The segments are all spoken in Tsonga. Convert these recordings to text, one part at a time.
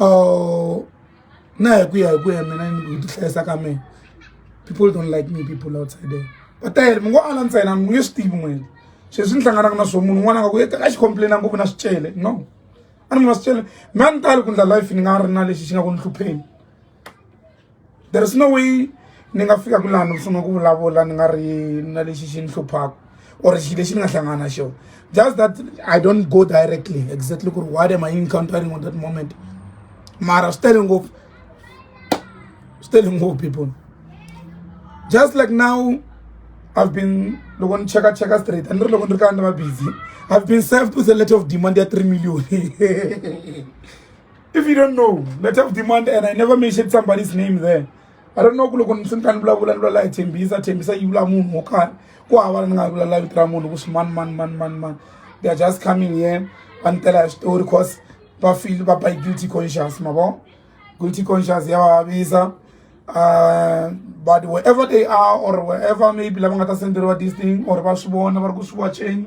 uh, na hi ku ya hi ku ya mina ni ku tihlayisa ka mina people don't like me people outside there va tele mi ngo ala ntsena mi nge swi tivi n'wini sweswi ni hlanganaka na swo munhu un'wana nga ku a xi complaina ngopfu na swicele no a ni munhu wa swicele mi a ni tali ku ndla life ni nga ri na lexi xi nga ku ni hlupheni there is no way ni nga fika ku laha ni sungula ku vulavula ni nga ri na lexi xi ni hluphaka or xi lexi ni nga hlangana na xona just that i don't go directly exactly ku ri what am i encountering on that moment mara swi tele ngopfu swi tele ngopfu people just like now i've been loko ni cheka cheka straight a ni ri loko ni ri kaya ni va busy i've been served with a letter of demand ya three million if you don't know let have demand and i never mentioned somebody's name there i don't know ku loko ni ni vulavula ni vulavula hi thembisa thembisa yi vula munhu wo karhi ku hava la ni nga vulavula vito ra munhu ku swi mani mani mani mani mani they are just coming here va ni tela hi switori cause va feel va by guilty conscious ma vo guilty conscious ya vavisa uh, but wherever they are or wherever maybe lava nga ta senderiwa this thing or va swi vona va ri ku swi wacheni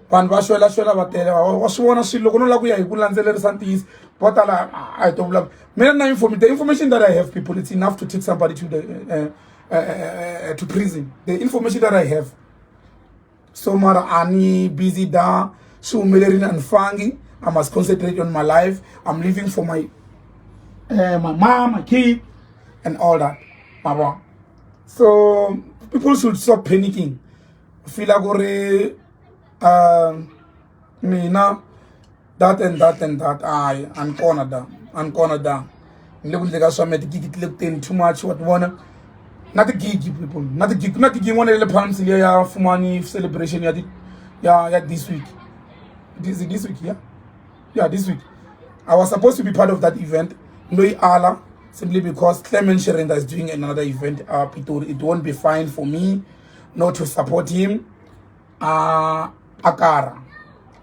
vanhu va xwela xwela va tele wa swi vona swilo loko no lava ku ya hi ku landzelerisa ntiyiso vo tala a hi to vula mina na inform the information that i have people it's enough to take somebody to the uh, uh, uh, to prison the information that i have so mara a ni busy da swi humelerile a ni fangi i must concentrate on my life i'm living for my uh, my mom my kid and all that mara so people should stop panicking fila ku ri um mina that and that and that hayi a ni kona da a ni kona da ni le ku ndle ka swa mina tigigi ti le ku teni too much wa ti vona na tigigi people na tigigi ku na gigi yin'wana ya le palms leyi ya fumani celebration ya ya ya this week this, this week yeah yeah this week i was supposed to be part of that event loyi ala simply because clement sherenda is doing another event up it, it won't be fine for me not to support him uh, akara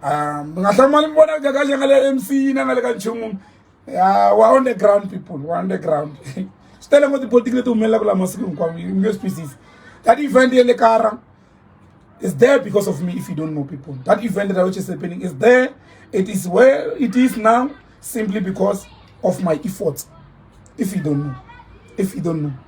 um mi nga hlamali mi vona ka kahle nga le mc na nga le ka nchumu ya wa on the ground people wa on the ground swi tele ngo tipolitiki leti humelelaka laha masiku hinkwawo mi nge swi twisisi that event ye le kara is there because of me if you don't know people that event that which is happening is there it is where it is now simply because of my efforts if you don't know if you don't know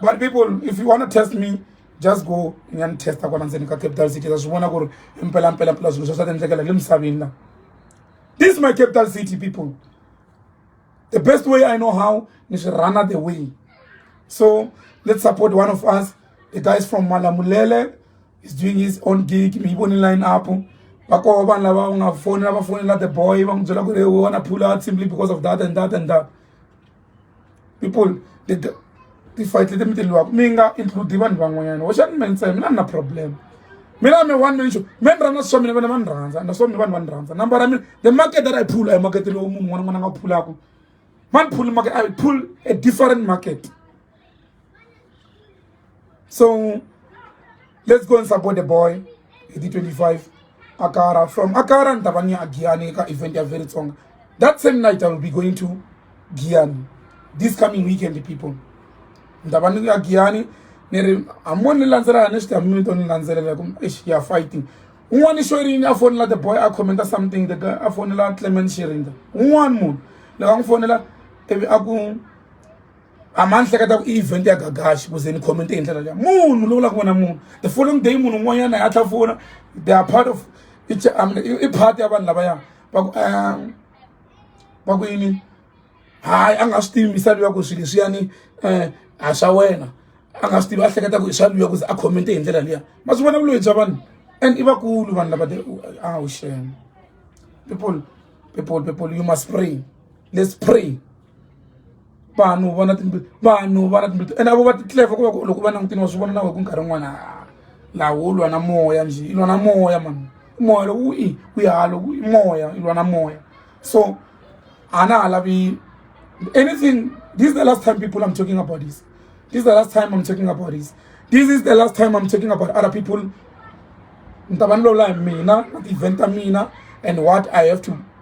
but people if you want to test me just go ni ya ni testa kwala ndzeni ka capital city ta swi vona ku ri impelampela mpela swilo swa swa tiendlekela le misaveni la this is my capital city people the best way i know how ni swi runner the way so let's support one of us the guys from malamulele is doing his own gig mi yi voni line up va koho vanhu lava va nga fonela va fonela the boy va n'wi byela ku ri we wanna pull out simply because of that and that and that people leti ti-fight leti mi ti lwaka mi nga include vanhu van'wanyana hoxani me ntsena mina ni na problem mina mi one minxo me ni rhandza swa mina vana va ni rhandza na swa mina vanhu va ni rhandza number ya mina the market that i pull a hi makete lowu munhu un'wana n'wana nga wu phulaka ma ni phuli market i pull a different market So let's go and support the boy. He did 25. Akara from Akara and Tavania Giani event are very strong. That same night I will be going to Giani. This coming weekend, people. Ndavania Giani. neri hamoni landzelela ni xitamimi to ni landzelela ku eish ya fighting un'wana i xwerini a fonela the boy a commenta something the guy a fonela clement xirinda un'wana munhu loko a n'wi fonela ivi a ku a ma ni hleketa ku i event ya gagaxi kuze ni comment hi ndlela leya munhu lowu la ku vona munhu the following day munhu un'wanyana ya tlha fona they are part of um, i part ya vanhu lavaya va ku um, va ku yini hayi a nga swi tivi misalo ya ku swilo leswiyani um a swa wena a nga swi tivi a hleketa ku i swa luya kuze a comment hi ndlela leya ma swi vona vuloyi bya vanhu and i vakulu vanhu lava awu shem people people people you must pray let's pray vanhu vona timbilu vanhu vona timbilu ene avo va ti clever ku va ku loko va langutini wa swi vona na wehe ku nkarhi wun'wana lawo lwa na moya njhe i lwa na moya mani moya loko wu i wu ya loko i moya i lwa na moya so a na ha lavi anything this is the last time people i'm talking about this this is the last time i'm talking about this this is the last time i'm talking about other people ni ta va ni lola hi mina na ti-event ta mina and what i have to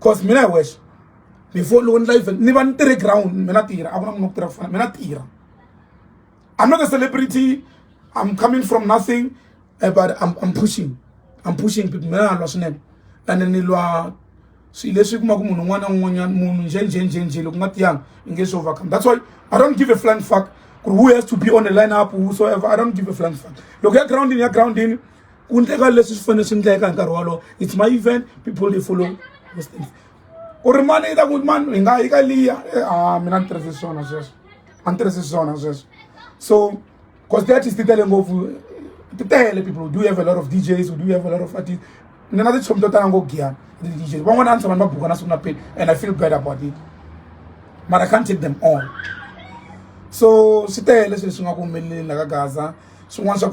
cause mina hi wexe before loko ni la event ni va ni tirhe ground mina tirha a ku na munhu ku tirha ku fana mina tirha i'm not a celebrity i'm coming from nothing eh, but I'm, i'm pushing i'm pushing people mina na lwa swinene ene ni lwa swilo leswi kuma ku munhu un'wana na un'wanyana munhu njhenjhenjhenjhe loko nga tiyanga i nge swi overcome that's why i don't give a flying fuck who has to be on the lineup whosoever i don't give a flying fuck loko ya groundini ya groundini ku endleka leswi swi fanele swi endleka hi nkarhi wolowo it's my event people they follow those things ku ri mani yi ta ku mani hi nga yi ka liya eh, a ah, mina ni tirhise swona sweswo a ni tirhise swona sweswo so because the artist ti tele ngopfu ti tele people do have a lot of djs do have a lot of artists ni na tichomi to tala ngo giyana ti-djs van'wana a ni tshama ni va buka na siku na peni and i feel bad about it but i can't take them all so swi tele swilo leswi nga ku humeleleni la ka gaza swin'wana swa ku